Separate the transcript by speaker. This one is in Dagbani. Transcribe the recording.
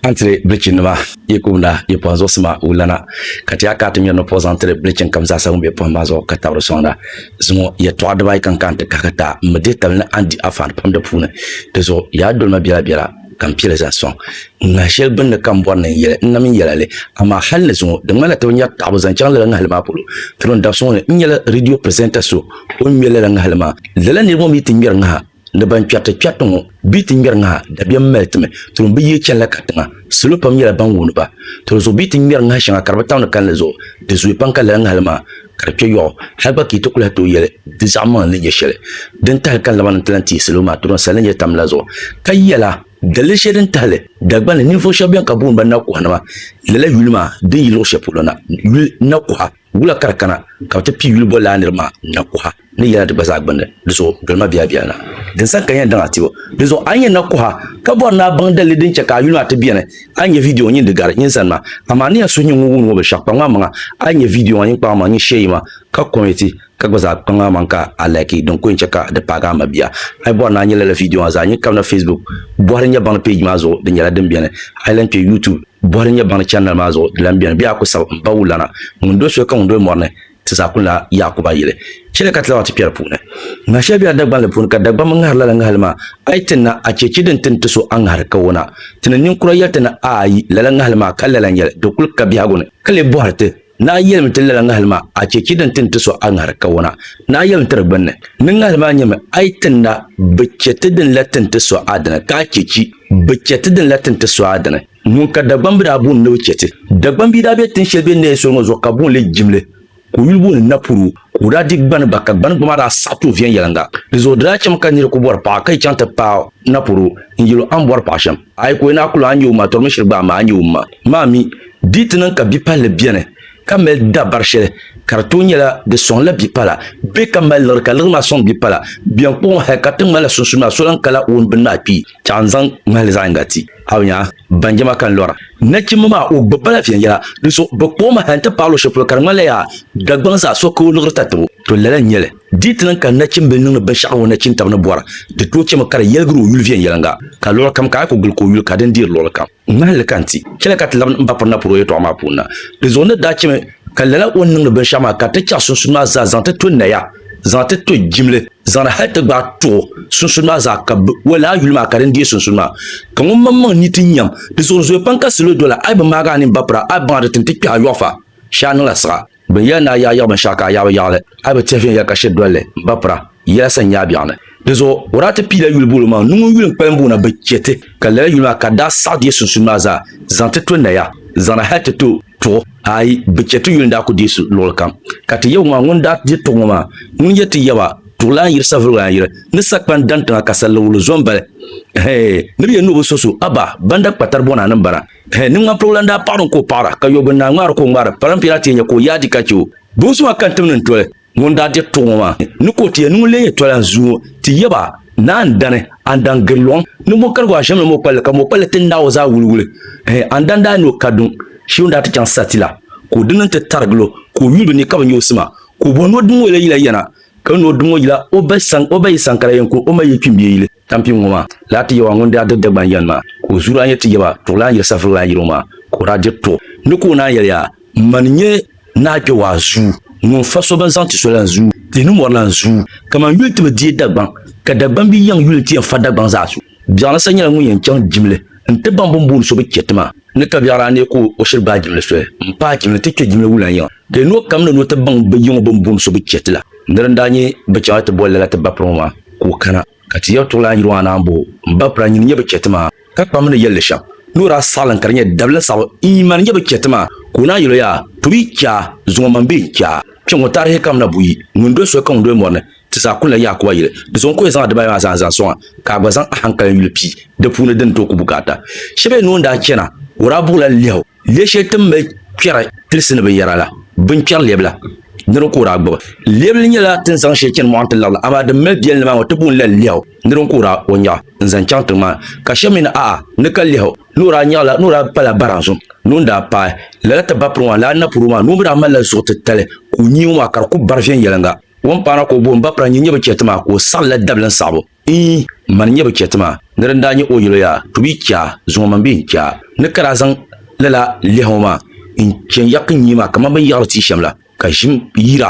Speaker 1: An tiri bilichi nima yi kumda yi pɔhim zuɣusima wulana, ka ti ya ka a ti ŋmɛri ni puɣi zaŋ tiri bilichin kam zaasa ŋun be pɔhim maa zuɣu ka tabiri soŋda. Zuŋɔ yɛtɔɣa dibaayi ka n kahi nti kahigi ti a, m mi deetabili ni a ni di afaani pam di puuni. Di zuɣu yi a doli ma biɛla biɛla, ka m pili zaŋ soŋ. Ŋahi shɛli gbinni ka m bɔri ni n yɛli n na mini yɛla li, amaa hal ni zuŋɔ di ŋmanila ti bi nyari taɣibu zaŋ chaŋ lala ŋahili maa polo. Tirim dabsuŋɔ ni, n nyɛla ridiyo pirisenta so o ni ŋmɛri lala ŋahili maa. Lala niriba ŋɔ mi ti ŋmɛri ŋaha. Ni ban kpɛriti kpɛriti ŋɔ bɛ yi ti ŋmɛri ŋaha dabiɛm mali timi, tuni bi yihi chanila katiŋa. Salo pam nyɛla ban wuuni ba. Tuni zuɣu bɛ yi ti ŋmɛri ŋaha shɛŋa ka di bi tam di kalinli zuɣu, di zooyi pam ka lala ŋahili maa ka di kpe yɔɣu. Hali gba ka yi ti ku lahi tooi yɛli di zaɣimaŋli ni nyɛ shɛli din tahili ka laba ni ti lahi teei salo maa tɔdɔŋ sali ni nyɛ tam la zuɣu ka yɛla daliri shɛli din tahili Dagbani ninvuɣu shɛba beni ka booni ba nakuɣanima lala yuli maa din yi luɣ shɛli polo na, yuli nakuɣa. Wula ka di kana ka bɛ ti pii yuli boli lala niriba maa na kuɣa ni yɛla di gba zaa gbinni? Di zuɣu doli ma biɛlabiɛla na. Din sani ka n yɛn daŋ a ti o. Di zuɣu a ni yɛn na kuɣa ka bɔri ni a baŋ dalili din chɛ ka a yuli maa ti beni. A yi nya vidiyo ŋɔ nyin di gari nyin sani maa, amaa a ni yɛn suhi nyin ŋun wumdi ŋɔ binshɛɣu kpaŋmaŋ maŋa. A yi nya vidiyo maa nyin kpaŋmaŋ nyin shee yiŋa ka kɔmɛti ka gba zaa kpaŋmaŋ maŋ ka a laiki din ku yɛn chɛ ka di paagi a mabia. A yi bɔri ni a nya lala vidiyo maa zaa nyin kabina Facebook bɔhiri nya baŋdi peeji maa zuɣu di nyɛla din beni. A yi lan kpe YouTube. Bɔhili n-nyɛ baŋdi chɛndali maa zuɣu di lan beni, bee a ku sab m ba wulana, ŋun doli soli ka ŋun doli mɔri ni ti zaa kuli naai Yaakuba yili? Chɛliya ka ti labaŋ ti kpɛri puuni. Ŋaha shɛli bela Dagbanli puuni, ka Dagbaŋ mi ŋahiri lala ŋahili maa. A yi tinna, a chɛ chi din tin ti so a ŋahiri ka o na ti ni niŋ kura yɛli ti ni aayi lala ŋahili maa, ka lala n-yɛli, di kul ka biɛhigu ni, ka lee bɔhiri ti. Naa yɛlimi ti lala ŋahili maa a chɛ chɛ din ti ni ti so a ŋahiri kawona. Naa yɛlimi tiri gbinni ni ŋahili maa nyɛmi a yi ti na bi chɛ ti din la ti ni ti so a dini ka a chɛ chi bi chɛ ti din la ti ni ti so a dini. Ŋun ka Dagbambi daa booni ni bi chɛ ti. Dagbambi daa be tin shɛli bɛ ni neei soli ŋɔ zuɣu ka booni li Jimli. Ka o yuli booni Napuru ka o daa di gbani gba ka gbani gba maa daa saɣi tooi viɛnyɛliŋga. Di zuɣu di daa chɛmi ka niri ku bɔri paɣa ka yi chaŋ ti paai Napuru n yɛl o a ni bɔri paɣa shɛm. Ayi ka o ni a kul a nya o ma, tɔrimi shiri gba amaa a nya o ma maa mi di ti niŋ ka bipalli beni ka mali dabari shɛli ka di tooi nyɛla di sɔŋla bipala bee ka mali liɣiri ka liɣiri maa sɔŋ bipala bɛn kpuɣi hal ka ti ŋmani la sunsuuni maa so lan kala o ni bini maa kpi chɛɣu n-zaŋ ŋmahili zaɣ yiŋga ti a nya banjama ka n lɔra nachimba maa o gbibi ba la viɛnyɛla dinzuɣu bɛ kpuɣi ma hal nti paai luɣ shɛli polo ka di ŋmanila yaa Dagbaŋ zaa so ka o liɣiri tatabo to lala n-nyɛ li. Di ti niŋ ka nachimbili niŋdi binshɛɣu ŋɔ nachin tabi ni bɔra, di tooi chɛmi ka di yɛligiri o yuli viɛnyɛliŋga, ka luɣili kam ka a yi ku gili ka o yuli ka din deeri luɣili kam. Ŋmahinli ka n ti chɛli ka ti labi n ba piri na puri o yɛtɔɣa maa puuni na. Di zuɣu ni daa chɛmi ka lala o ni niŋdi binshɛɣu maa ka ti chaɣi sunsun maa zaa zaŋ ti to naya, zaŋ ti to jimli, zaŋdi hali ti gbaai tuɣi sunsun maa zaa ka bɛ o lala yuli maa ka din deei sunsun maa. Ka ŋun maŋmaŋ ni ti nyam, di zuɣu di zooya pam ka salo doli a, a yi bi maagi a nini ba pira, a baŋa di ti ni ti kpɛhi a yɔɣu fa shee a niŋla siɣa. Bɛ yɛli ni a yaɣiyiɣi binshɛɣu ka a yaɣibu yaɣili, a bi tihi viɛnyɛla ka shiri dolli m-bapira yɛla sani nyaabiɛɣu ni. Dizuɣu o daa ti piila yuli buɣili maa ni ŋun yuli n-kpalim booni bɛ chɛ ti, ka lala yuli maa ka daa saɣi di yi sunsuuni maa zaa zaŋ ti to naya zaŋna hal ti to tuɣu. Aai! Bɛ chɛ ti yuli n-daa ku deei su luɣili kam, ka ti yaba maa ŋun daa di tuɣu ŋɔ maa ŋun yɛli ti yaba, Tuɣilan yiri savuligilan yiri ni sakpan daŋ tiŋa ka saliriguli zo m-bali. Ɛhɛɛ! Ni bɛ yɛn ni o bi so so, abaa! Banda kpatari bɔna ni m-bana. Hɛ, ni ŋmanpirigu lan daa paɣiri n ka o paɣira, ka yɔbu n daa ŋmaari ka o ŋmaari, paran piɛla ti yɛn nya ka o yaadi ka chɛ o. Bonso maa ka n tim ni n toli ŋun daa diri tuɣi ŋɔ maa ni ka o ti yɛn niŋ leei toli a zuŋɔ ŋɔ ti yɛba, Naa n dani, a ni dan giri lɔŋ ni mɔkarigu a ʒiɛmla mɔkpalli, ka mɔkpalli ti naai o zaa wuliwuli. Hɛ, a ni dan daa ni o ka duŋ shee o ni daa ti chaŋ sariti la, ka o dini ni ti tarigil o, ka o yuli bɛ ni ka bi nya o sima, ka o bɔhi ni o dim ŋɔ yɛla yila yana, ka ni o dim ŋɔ yila o ba yi san ka la yɛn ku o ma yi kpimbiɛ yili. Tampiŋ ŋɔ maa, laa ti yɛba ŋun daa diri Dagban yɛn maa, ka o zuyu daa nyɛ ti yɛba tuɣu laa n-yiri safiri laa yiri o maa, ka o daa diri tuɣu ni ka o naan yɛli yaa, Man n-nyɛ naa kpe waa zuyu ŋun fa so bɛn zaŋ ti so la n zuyu, tihi ni mɔri la n zuyu, kaman yuli ti bi deei Dagbaŋ, ka Dagbaŋ bi yɛŋ yuli n-ti yɛn fa Dagbaŋ zaɣa so. Biɛɣuni sa nyɛla ŋun yɛn chaŋ jimli n-ti baŋ bɛ ni booni so bi chɛ ti maa. Ni ka biɛɣra ni ka o shiri gbaai jimli soli m-paai jimli ti kpe jimli wulan yiŋa. Ka yi noo kam ni ni o ti baŋ bɛ yiŋɔ bɛn booni so bi chɛ ti la. Nir n-daa nyɛ bɛ chɛŋ a ti boli lala ti bapir ŋɔ maa, ka o kana. Ka ti yɛri tuɣilaan yiri ŋɔ anahi m-bɔ o, m bapira, nyini n-nyɛ bɛ chɛ ti maa. Ka kpam ni yɛl li shɛm, ni o daa saɣilim ka di nyɛ dabili saɣibu n-yi mani n-nyɛ bɛ chɛ ti maa, ka o naan yɛl o yaa, Tooi yi chɛ a, zuŋɔ man bee n-chɛ a. Kpiɔŋ ŋɔ taarihi kam na buyi, ŋun doli soli ka ŋun doli mɔri ni. Ti zaa kulila Yakuwa yili. Di zuɣu n ku yɛn zaŋ adibayi maa zaa n-zaŋ sɔŋ a, ka a gba zaŋ ahankali yuli pii di puuni din tooi ku bukaata. Shɛba yɛn ni o ni daa chana, o daa buɣila lɛhu lɛɛ shɛli ti ni mali kpɛri tilisi ni binyɛra la, binkpɛri lɛbila nir ka o daa gbibi. Lɛbili nyɛla tin zaŋ shɛli chani mɔɣu nti lirili, amaa din mali biɛlinli maa ŋɔ ti booni la lɛhu nir ka o daa o nyaɣi n-zaŋ chaŋ tiŋ maa ni. Ka shɛba mi ni a'a ni ka lɛhu ni o daa nyaɣila ni o daa pala baran zuŋ ni o ni daa paai lala ti bapiriŋɔ maa ni a napɔri o maa ni o mi daa malila zuɣu titali ka o nyee ŋɔ maa ka di ku bari viɛnyɛliŋga. Wumpaana ka o booni ba pira n-yi nyɛ bi chɛ ti maa ka o saɣi la dabili n-saɣibu ii mani nyɛ bi chɛ ti maa ni di ni daa nyɛ o yɛlo yaa tu bia chaa zuŋ o mani bɛ n chaa ni ka daa zaŋ lala lɛhi o maa n-chɛ n yaki n nyee maa kaman bɛ ni yaɣiri tia shɛm la ka ʒim yira